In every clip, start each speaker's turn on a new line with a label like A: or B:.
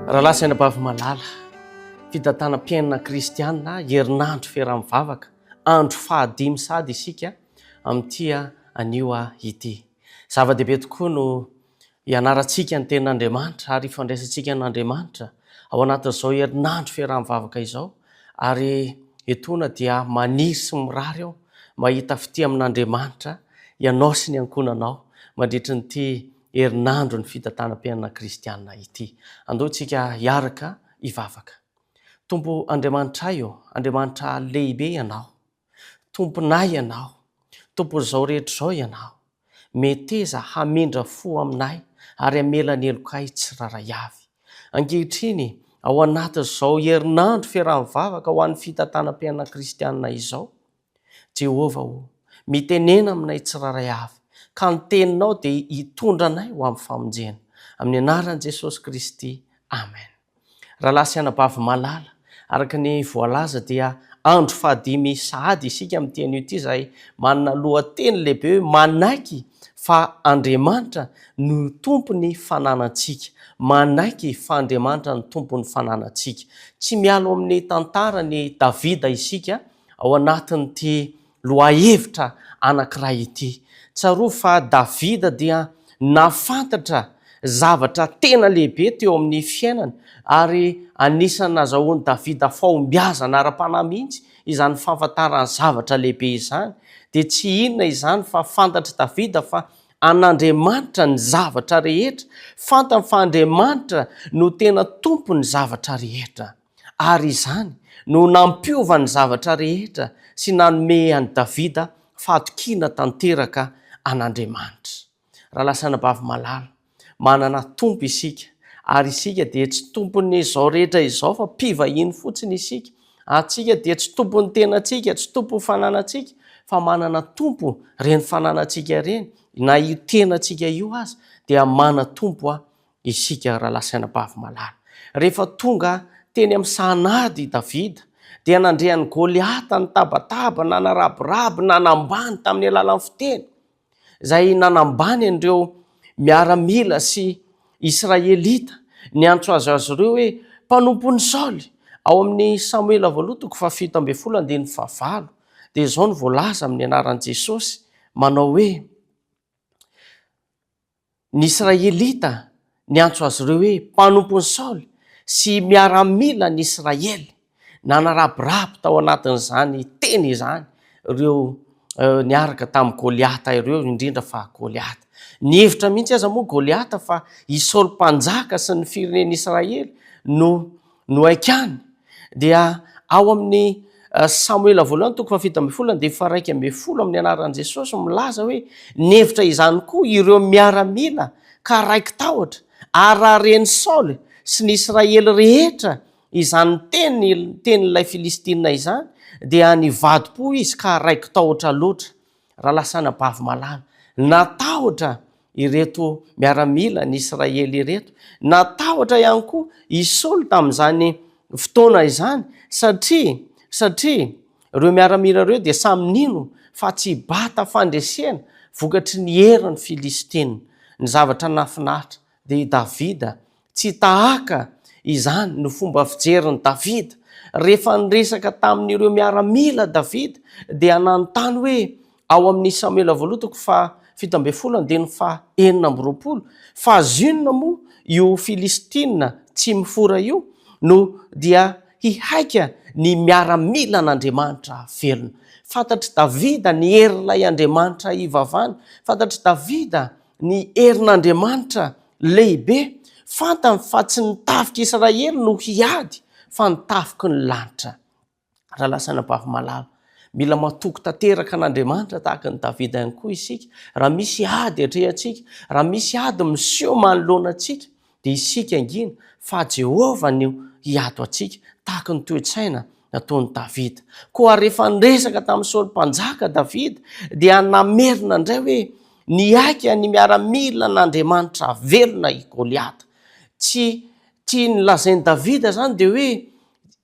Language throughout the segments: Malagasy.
A: Rahalahy sy anabavy malala, fitantanam-piainana kristianina, herinandro fiaraha-mivavaka, andro fahadimy sady isika amin'ity anio ity. Zava-dehibe tokoa no Ianarantsika ny Tenin'Andriamanitra ary ifandraisantsika an'Andriamanitra ao anatin'izao herinandro fiaraha-mivavaka izao ary etoana dia maniry sy mirary aho mba hahita fitia amin'Andriamanitra ianao sy ny ankohonanao mandritry n'ity herinandron'ny fitantanam-piainana kristiana ity. Andao isika hiaraka hivavaka. Tompo Andriamanitray ô, Andriamanitra lehibe Ianao. Tomponay Ianao, Tompon'izao rehetra izao Ianao, meteza hamindra fo aminay ary hamela ny helokay tsirairay avy. Ankehitriny, ao anatin'izao herinandro fiaraha mivavaka ho an'ny fitantanam-piainana kristiana izao, Jehovah o, mitenena aminay tsirairay avy, ka ny Teninao dia hitondra anay ho amin'ny famonjena. Amin'ny anaran'i Jesosy Kristy, amen. Rahalahy sy anabavy malala, araka ny voalaza dia andro fahadimy sahady isika amin'ity anio ity izay manana lohateny lehibe hoe manaiky fa Andriamanitra no tompon'ny fananantsika. Manaiky fa Andriamanitra no tompon'ny fananantsika. Tsy miala ao amin'ny tantaran'i Davida isika ao anatin'ity Lohahevitra anankiray ity. Tsarovy fa Davida dia nahafantatra zavatra tena lehibe teo amin'ny fiainany, ary anisan'ny nahazahoan'i Davida fahombiazana ara-panahy mihitsy izany fahafantarany zavatra lehibe izany. Dia tsy inona izany fa fantatr'i Davida fa an'Andriamanitra ny zavatra rehetra. Fantany fa Andriamanitra no tena Tompon'ny zavatra rehetra. ary izany no nampiova ny zavatra rehetra sy nanome an'i Davida fahatokiana tanteraka an'Andriamanitra. Raha lasa anabavy malala, manana tompo isika, ary isika dia tsy tompon'izao rehetra izao fa mpivahiny fotsiny isika, antsika dia tsy tompon'ny tenantsika, tsy tompon'ny fananantsika, fa manana tompo ireny fananantsika ireny, na io tenantsika io aza dia mana-tompo Isika rahalahy sy anabavy malala, rehefa tonga teny amin'ny sahanady i Davida, dia nandre an'i Goliata nitabataba, nanarabiraby, nanambany tamin'ny alalan'ny fiteny, izay nanambany an'ireo miaramila sy Israelita niantso azy azy ireo hoe mpanompon'i Saoly. Ao amin'ny Samoela Voalohany toko fahafito ambin'ny folo andininy fahavalo dia izao no voalaza amin'ny anaran'i Jesosy manao hoe Ny Israelita niantso azy ireo hoe mpanompon'i Saoly sy miaramilan'ny Israely. Nanarabiraby tao anatin'izany teny izany ireo niaraka tamin'i Goliata ireo, indrindra fa Goliata. Nihevitra mihitsy aza moa Goliata fa i Saoly Mpanjaka sy ny firenen'Israely no No haikany dia ao amin'ny Samoela voalohany toko fahafito ambin'ny folo andininy faharaika ambin'ny folo amin'ny anaran'i Jesosy milaza hoe nihevitra izany koa ireo miaramila ka raiki-tahotra ary raha ren'i Saoly sy ny Israely rehetra izany teny tenin'ilay Filistina izany dia nivadi-po izy ka raiki-tahotra loatra Ralasana Bavimalala, natahotra ireto miaramila ny Israely ireto, natahotra ihany koa i Saoly tamin'izany fotoana izany satria satria ireo miaramila ireo dia samy nino fa tsy hibata fandresena vokatry ny herin'ny Filistina. Ny zavatra nahafinaritra dia i Davida Tsy tahaka izany no fomba fijerin'i Davida. Rehefa niresaka tamin'ireo miaramila Davida dia nanontany hoe ao amin'ny Samoela Voaloha toko faha fito ambin'ny folo andininy faha enina amby roapolo fa zinona moa io Filistina tsy mifora io no dia hihaika ny miaramilan'Andriamanitra velona. Fantatr'i Davida ny herin'ilay Andriamanitra ivavany. Fantatr'i Davida ny herin'Andriamanitra Lehibe, fantany fa tsy ny tafik'i Israely no hiady fa ny tafiky ny lanitra. Rahalahy sy anabavy malala, mila matoky tanteraka an'Andriamanitra tahaka an'i Davida ihany koa isika. Raha misy ady atrehantsika, raha misy ady miseho manoloana antsika, dia isika angina fa Jehovah no hiato antsika, tahaka ny toe-tsaina. nataon'i Davida. Koa rehefa niresaka tamin'i Saoly Mpanjaka Davida dia namerina indray hoe, Nihaika ny miaramilan'Andriamanitra velona i Goliata. Tsy tsy nolazain'i Davida izany dia hoe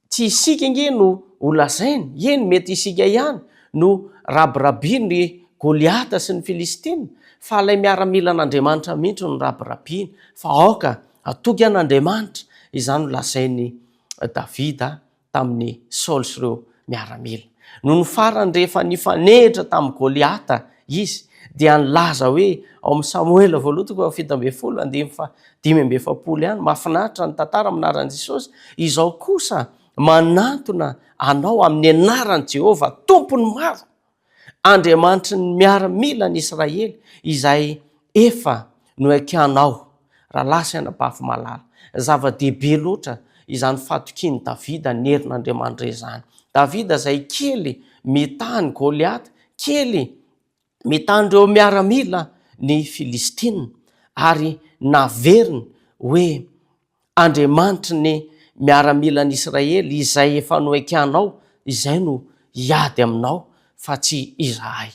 A: tsy isika ange no ho lazainy, eny mety isika ihany no rabirabian'i Goliata sy ny Filistina fa ilay miaramilan'Andriamanitra mihitsy no rabirabiany fa aoka hatoky an'Andriamanitra, izany no lazain'i Davida tamin'i Saoly sy ireo miaramila. Nony farany rehefa nifanehitra tamin'i Goliata izy dia nilaza hoe ao amin'ny Samoela voalohany toko fahafito ambin'ny folo andininy fahadimy amby efapolo ihany, mahafinaritra ny tantara amin'ny anaran'i Jesosy, izao kosa manantona anao amin'ny anaran'i Jehovah, Tompon'ny maro! Andriamanitry ny miaramila ny Israely izay efa noekianao rahalahy sy anabavy malala. Zava-dehibe loatra izany fahatokian'i Davida ny herin'Andriamanitra izany. Davida izay kely mitaha an'i Goliata, kely mitaha an'ireo miaramila ny Filistina ary naveriny hoe Andriamanitry ny miaramilan'Israely izay efa noekenao izay no hiady aminao fa tsy izahay.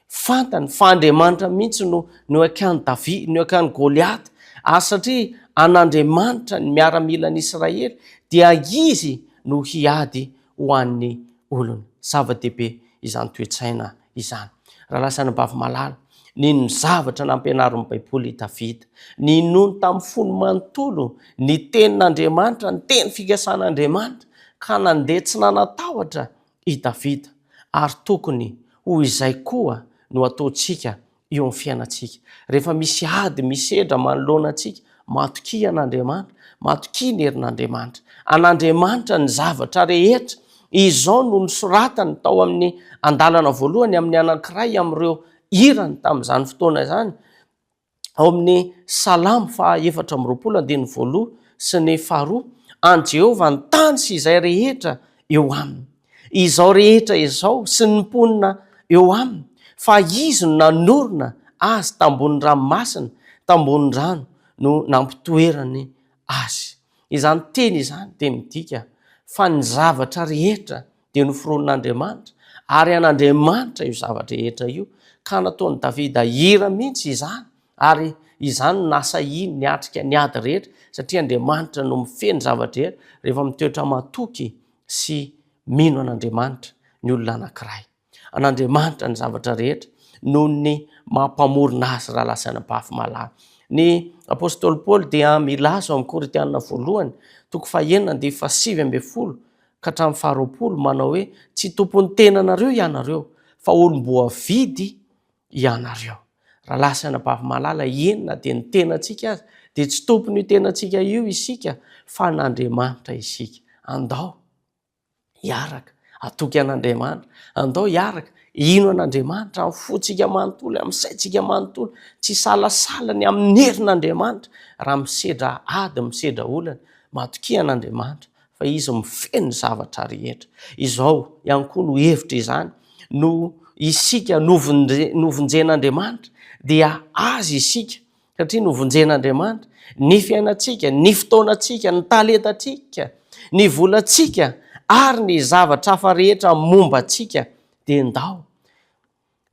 A: Fantany fa Andriamanitra mihitsy no noekan'i Davi, noekan'i Goliata ary satria an'Andriamanitra ny miaramilan'Israely dia Izy no hiady ho an'ny olony. Zava-dehibe izany toe-tsaina izany. Raha lasan'i Bavimalaly, nino ny zavatra nampianarin'ny Baiboly i Davida. Ninoany tamin'ny fony manontolo ny Tenin'Andriamanitra, ny teny fikasan'Andriamanitra, ka nandeha tsy nanan-tahotra i Davida. Ary tokony ho izay koa no ataontsika eo amin'ny fiainantsika. Rehefa misy ady misedra manoloana antsika, matokia an'Andriamanitra, matokia ny herin'Andriamanitra. An'Andriamanitra ny zavatra rehetra. Izao no nosoratany tao amin'ny andalana voalohany amin'ny anankiray amin'ireo hirany tamin'izany fotoana izany, ao amin'ny Salamo faha efatra amby roapolo andininy voaloha sy ny faharoa, An'i Jehovah ny tany sy izay rehetra eo aminy. izao rehetra izao sy ny mponina eo aminy, fa Izy no nanorina azy tambonin'ny ranomasina, tambonin'ny rano no nampitoerany azy. Izany teny izany dia midika fa ny zavatra rehetra dia noforonin'Andriamanitra, ary an'Andriamanitra io zavatra rehetra io, ka nataon'i Davida hira mihitsy izany, ary izany no nahasahiany niatrika ny ady rehetra, satria Andriamanitra no mifehy ny zavatra rehetra, rehefa mitoetra matoky sy mino an'Andriamanitra ny olona anankiray. An'Andriamanitra ny zavatra rehetra noho ny maha mpamorona azy raha lasa any am-pafy malala. Ny apostoly Paoly dia milaza ao amin'ny Korintiana voalohany toko fahenina andivo fahasivy ambin'ny folo ka hatramin'ny faharoapolo manao hoe tsy tompon'ny tenanareo ianareo fa olom-boavidy ianareo. Rahalahy sy anabavy malala, eny na dia ny tenantsika aza, dia tsy tompon'io tenantsika io isika fa an'Andriamanitra isika. Andao hiaraka hatoky an'Andriamanitra, andao hiaraka hino an'Andriamanitra amin'ny fontsika manontolo, amin'ny saintsika manontolo, tsy hisalasala ny amin'ny herin'Andriamanitra raha misedra ady, misedra olana. Matokia an'Andriamanitra fa izy mifehy ny zavatra rehetra. Izao ihany koa no hevitra izany, noho isika novonjen'Andriamanitra dia Azy isika, satria novonjen'Andriamanitra ny fiainantsika, ny fotoanantsika, ny talentantsika, ny volantsika ary ny zavatra hafa rehetra momba antsika dia ndao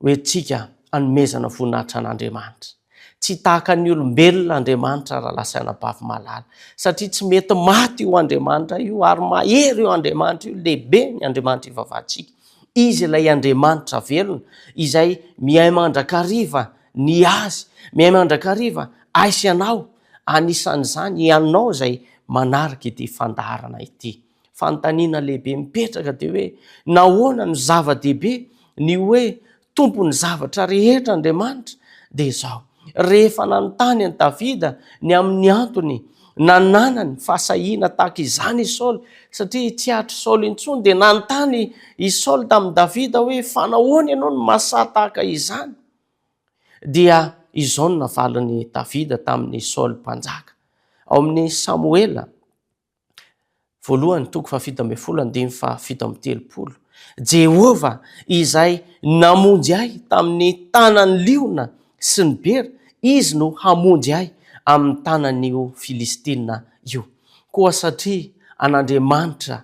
A: Ho entintsika hanomezana voninahitra an'Andriamanitra. Tsy tahaka ny olombelona Andriamanitra rahalahy sy anabavy malala, satria tsy mety maty io Andriamanitra io ary mahery io Andriamanitra io, lehibe ny Andriamanitra ivavahantsika. Izy ilay Andriamanitra velona izay miahy mandrakariva ny Azy, miahy mandrakariva ahy sy ianao, anisan'izany ianao izay manaraka ity fandaharana ity. Fanontaniana lehibe mipetraka dia hoe nahoana no zava-dehibe ny hoe tompon'ny zavatra rehetra Andriamanitra? Dia izao, rehefa nanontany an'i Davida ny amin'ny antony nananany fahasahiana tahaka izany i Saoly, satria tsy hatry Saoly intsony, dia nanontany i Saoly tamin'i Davida hoe fanahoana ianao no mahasahy tahaka izany? Dia izao no navalin'i Davida tamin'i Saoly mpanjaka ao amin'ny Samoela, Voalohany, toko fahafito ambin'ny folo, andininy fahafito amby telopolo. Jehovah izay namonjy ahy tamin'ny tanan'ny liona sy ny bera, izy no hamonjy ahy amin'ny tanan'io Filistina io. Koa satria an'Andriamanitra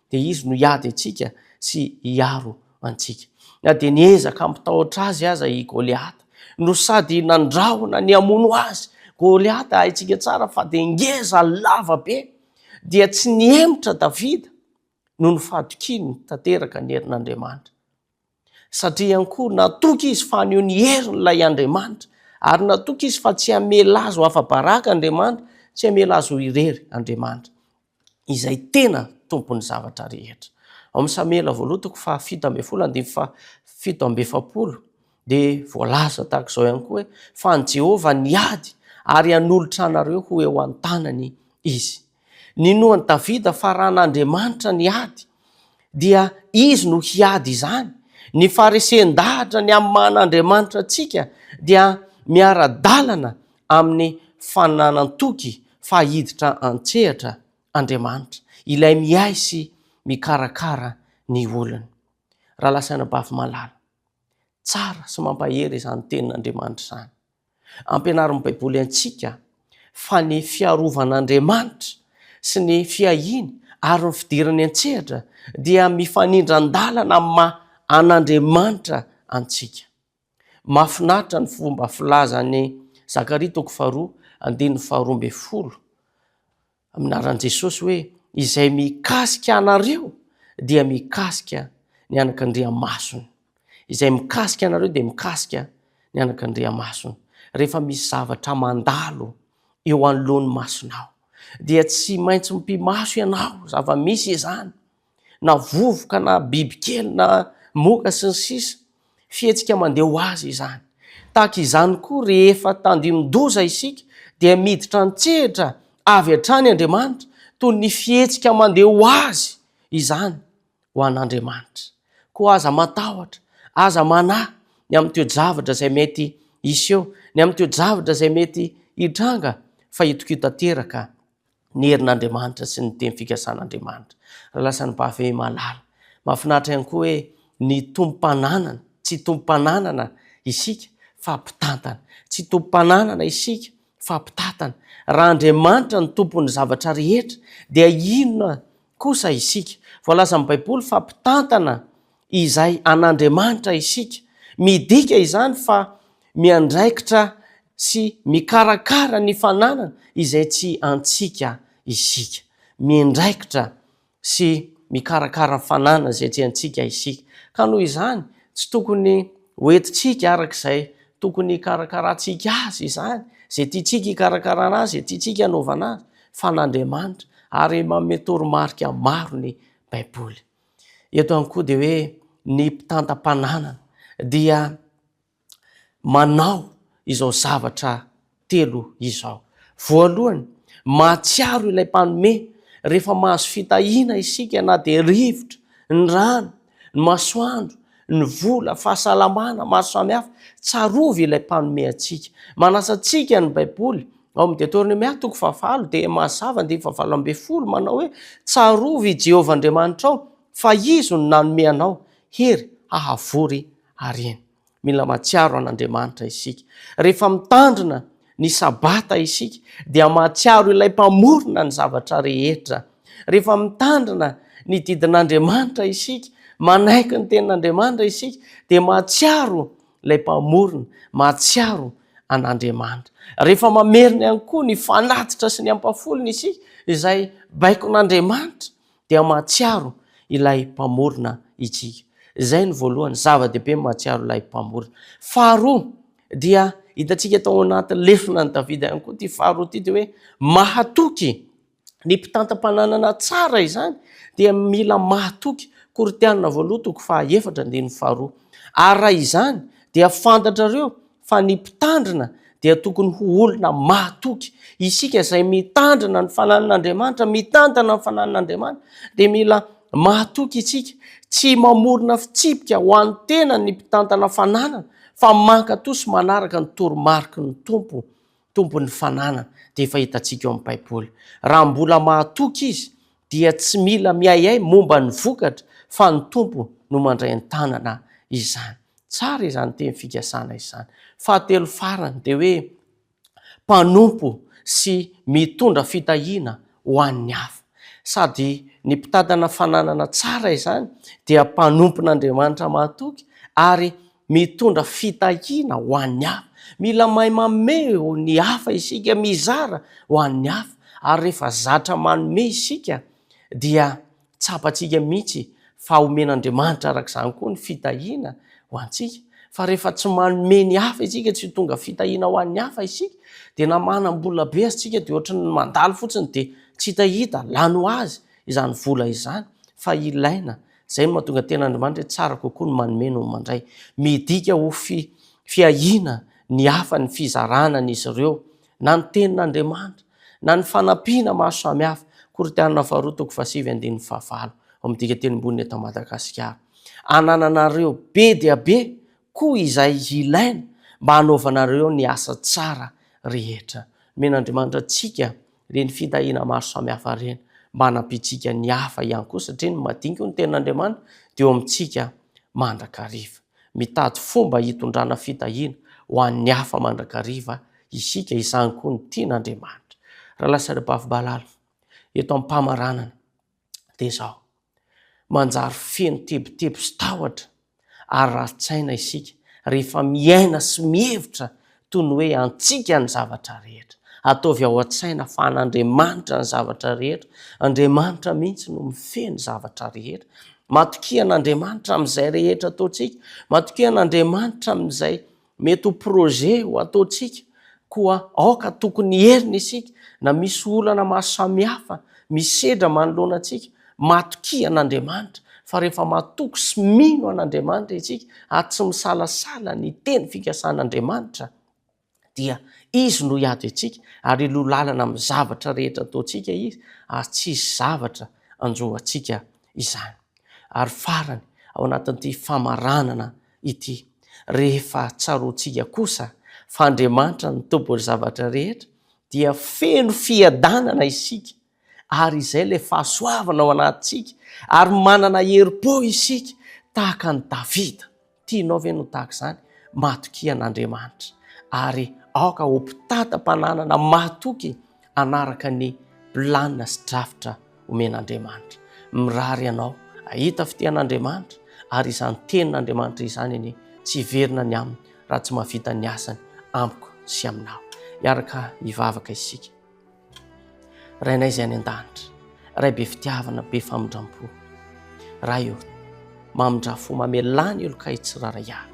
A: dia Izy no hiady antsika sy hiaro antsika. Na dia niezaka hampitahotra Azy aza i Goliata, no sady nandrahona ny hamono Azy. Goliata, haintsika tsara fa dia ngeza, lava be. Dia tsy nihemotra Davida, noho ny fahatokiany tanteraka ny herin'Andriamanitra. Satria ihany koa natoky izy fa haneho ny heriny ilay Andriamanitra, ary natoky izy fa tsy hamela azy ho afa-baraka Andriamanitra, tsy hamela azy ho irery Andriamanitra, izay tena Tompon'ny zavatra rehetra. Ao amin'ny Samoela voalohany toko fahafito ambin'ny folo andininy fahafito amby efapolo dia voalaza tahaka izao ihany koa hoe fa an'i Jehovah ny ady ary hanolotra anareo ho eo an-tanany izy. Ninoan'i Davida fa raha an'Andriamanitra ny ady, dia Izy no hiady izany. Ny faharesen-dahatra ny amin'ny maha an'Andriamanitra antsika dia miara-dalana amin'ny fananan-toky fa hiditra an-tsehatra Andriamanitra, Ilay miahy sy mikarakara ny olony. Rahalahy sy anabavy malala, tsara sy mampahery izany tenin'Andriamanitra izany. Ampianarin'ny Baiboly antsika fa ny fiarovan'Andriamanitra sy ny fiahiany ary ny fidirany an-tsehatra dia mifanindran-dalana amin'ny maha an'Andriamanitra antsika. Mahafinaritra ny fomba filazan'i Zakaria toko faharoa andininy faharoa ambin'ny folo amin'ny anaran'i Jesosy hoe izay mikasika anareo dia mikasika ny anak'Andriamasony. Izay mikasika anareo dia mikasika ny anak'Andriamasony. Rehefa misy zavatra mandalo eo anoloan'ny masonao dia tsy maintsy mipi-maso ianao, zava-misy izany. na vovoka na bibikely na moka sy ny sisa Fihetsika mandeha ho azy izany. Tahaka izany koa rehefa tandindoza isika dia miditra an-tsehatra avy hatrany Andriamanitra toy ny fihetsika mandeha ho azy izany ho an'Andriamanitra. Koa aza matahotra, aza manahy ny amin'ny toe-javatra izay mety hiseho, ny amin'ny toe-javatra izay mety hitranga fa itokio tanteraka ny herin'Andriamanitra sy ny teny fikasan'Andriamanitra. Raha lasan'ny bavy malala. Mahafinaritra ihany koa hoe ny tompom-pananana, tsy tompom-pananana isika fa mpitantana, tsy tompom-pananana isika fa mpitantana. Raha Andriamanitra no tompon'ny zavatra rehetra dia inona kosa isika? Voalaza amin'ny Baiboly fa mpitantana izay an'Andriamanitra isika. Midika izany fa miandraikitra sy mikarakara ny fananana izay tsy antsika isika. Miandraikitra sy mikarakara ny fananana izay tsy antsika isika. Ka noho izany, tsy tokony hoentintsika araka izay tokony hikarakarantsika azy izany, izay tiantsika hikarakarana azy, izay tiantsika hanaovana azy, fa an'Andriamanitra, ary manome toromarika maro ny Baiboly. Eto ihany koa dia hoe ny mpitantam-pananana dia manao izao zavatra telo izao. Voalohany, mahatsiaro ilay mpanome rehefa mahazo fitahiana isika na dia rivotra ny rano, ny masoandro, ny vola, fahasalamana maro samihafa, tsarovy ilay mpanome antsika. Manasa antsika ny Baiboly ao amin'ny Detornomia toko fahavalo dia mazava andininy fahavalo ambin'ny folo manao hoe tsarovy i Jehovah Andriamanitrao fa izy no nanome anao hery hahavory harena. Mila mahatsiaro an'Andriamanitra isika rehefa mitandrina ny sabata isika dia mahatsiaro ilay mpamorona ny zavatra rehetra. Rehefa mitandrina ny didin'Andriamanitra isika, manaiky ny tenin'Andriamanitra isika dia mahatsiaro ilay mpamorona, mahatsiaro an'Andriamanitra. Rehefa mamerina ihany koa ny fanatitra sy ny ampafolony isika izay baikon'Andriamanitra dia mahatsiaro ilay mpamorona itsika. Izay ny voalohany, zava-dehibe ny mahatsiaro ilay mpamorona. Faharoa, dia hitantsika tao anatin'ny lefona ny Davida ihany koa ity faharoa ity dia hoe mahatoky. Ny mpitantam-pananana tsara izany dia mila mahatoky. Korintianina voalohany toko fahaefatra andininy faharoa. Ary raha izany dia fantatrareo fa ny mpitandrina dia tokony ho olona mahatoky. Isika izay mitandrina ny fanahin'Andriamanitra, mitantana ny fanahin'Andriamanitra, dia mila mahatoky isika. Tsy mamorona fitsipika ho an'ny tenany ny mpitantana fananana, fa mankato sy manaraka ny toromariky ny Tompo. Tompon'ny fananana dia efa hitantsika ao amin'ny Baiboly. Raha mbola mahatoky izy dia tsy mila miahiahy momba ny vokatra fa ny Tompo no mandray an-tanana izany. Tsara izany teny fikasana izany. Fahatelo farany dia hoe mpanompo sy mitondra fitahiana ho an'ny hafa. Sady ny mpitantana fananana tsara izany dia mpanompon'Andriamanitra mahatoky ary Mitondra fitahiana ho an'ny hafa. Mila mahay mameho ny hafa isika, mizara ho an'ny hafa, ary rehefa zatra manome isika dia tsapantsika mihitsy fa omen'Andriamanitra araka izany koa ny fitahiana ho antsika. Fa rehefa tsy manome ny hafa isika, tsy tonga fitahiana ho an'ny hafa isika, dia na manam-bola be aza isika dia ohatry ny mandalo fotsiny dia tsy hita hita, lany ho azy izany vola izany fa ilaina Izay no mahatonga tena Andriamanitra hoe tsara kokoa ny manome noho ny mandray. Midika ho fi, fiahiana ny hafa ny fizarana an' izy ireo, na ny tenin' Andriamanitra, na ny fanampiana maro samihafa, Korintiana faharoa toko fahasivy andininy fahavalo, ao amin'ny dikan-tenimboniny eto Madagasikara. Anananareo be dia be koa izay ilaina mba hanaovanareo ny asa tsara rehetra. Nomen' Andriamanitra antsika ireny fitahiana maro samihafa ireny mba hanampiantsika ny hafa ihany koa satria ny madinika hoy ny tenin'Andriamanitra dia eo amintsika mandrakariva. Mitady fomba hitondrana fitahiana ho an'ny hafa mandrakariva isika, izany koa no tian'Andriamanitra. Ralasy Rabavy Balala, eto am-pamaranana. dia izao, manjary feno tebiteby sy tahotra ary rarin-tsaina isika rehefa miaina sy mihevitra toy ny hoe antsika ny zavatra rehetra. Ataovy ao an-tsaina fa an'Andriamanitra ny zavatra rehetra, Andriamanitra mihitsy no mifehy ny zavatra rehetra. Matokia an'Andriamanitra amin'izay rehetra ataontsika, matokia an'Andriamanitra amin'izay Mety ho projet ho ataontsika koa aoka tokony hierina isika na misy olana maro samihafa misedra manoloana antsika, matokia an'Andriamanitra fa rehefa matoky sy mino an'Andriamanitra isika ary tsy misalasala ny teny fikasan'Andriamanitra dia Izy no hiady antsika ary hiloha lalana amin'ny zavatra rehetra ataontsika Izy ary tsy hisy zavatra hanjo antsika izany. Ary farany, ao anatin'ity famaranana ity. Rehefa tsaroantsika kosa fa Andriamanitra no Tompon'ny zavatra rehetra, dia feno fiadanana isika, ary izay ilay fahasoavana ao anatintsika, ary manana herim-po isika tahaka an'i Davida. Tianao ve ny ho tahaka izany? Matokia an'Andriamanitra, ary aoka ho mpitantana-pananana mahatoky. hanaraka ny planina sy drafitra omen'Andriamanitra. Mirary ianao hahita fitian'Andriamanitra ary izany tenin'Andriamanitra izany anie tsy hiverina ny aminy raha tsy mahavita ny asany amiko sy aminao. Miaraka hivavaka isika. Rainay izay any an-danitra, Ray be fitiavana, be famindram-po. Ray ô, mamindrà fo, mamelà ny olon-kay tsirairay avy.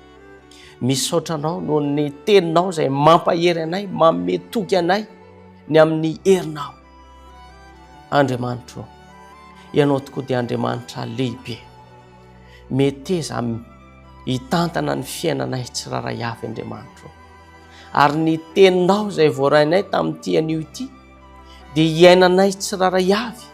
A: Misaotra Anao noho ny Teninao izay mampahery anay, manome toky anay ny amin'ny herinao. Andriamanitro, Ianao tokoa dia Andriamanitra lehibe. Meteza hitantana ny fiainanay tsirairay avy, Andriamanitro. Ary ny Teninao izay voarainay tamin'ity anio ity, dia hiainanay tsirairay avy,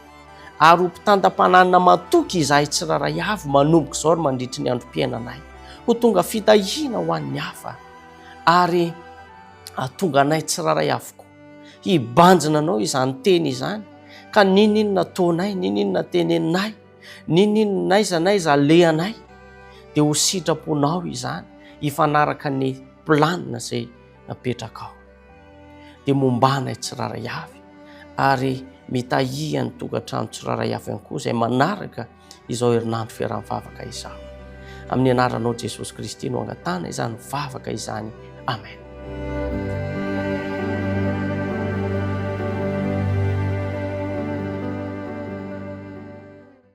A: ary ho mpitandam-pananina matoky izahay tsirairay avy manomboka izao ary mandritry ny androm-piainanay. Ho tonga fitahiana ho an'ny hafa, ary hahatonga anay tsirairay avokoa hibanjina anao izany teny izany, ka n'inon'inona ataonay, n'inon'inona teneninay, n'inon'inona n'aiza n'aiza alehanay, dia ho sitraponao izany hifanaraka ny planina izay apetraka ao dia mombana i tsiraray avy ary mitahia ny tokantrano tsiraray avy ihany koa izay manaraka izao herinandro fiarahan'ny vavaka izao. Amin'ny anaranao Jesosy Kristy no angatana izany vavaka izany. Amen.